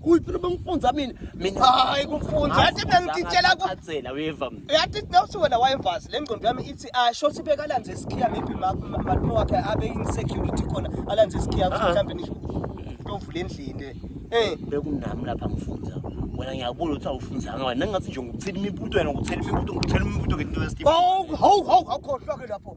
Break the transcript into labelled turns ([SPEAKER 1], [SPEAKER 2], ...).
[SPEAKER 1] Kuyiphi lo bengifunza
[SPEAKER 2] mina? Mina hayi kufunza.
[SPEAKER 1] Yathi bengitshela ku Atsela weva mina.
[SPEAKER 2] Yathi bewuthi wena
[SPEAKER 1] wayevazi le ngqondo yami ithi ah sho sibeka lanze isikhiya maybe ma- ma- malume wakhe abe in security khona alanze isikhiya ukuthi Ah. mhlambe nisho tovula endlini le. Eh Bekunami
[SPEAKER 2] lapha ngifunza. Wena ngiyabona ukuthi awufunzanga wena ngathi nje ngokuthela imibuto wena ngokuthela imibuto ngokuthela imibuto ke into yesifo. Hawu hawu hawu awukhohlwa
[SPEAKER 1] ke lapho.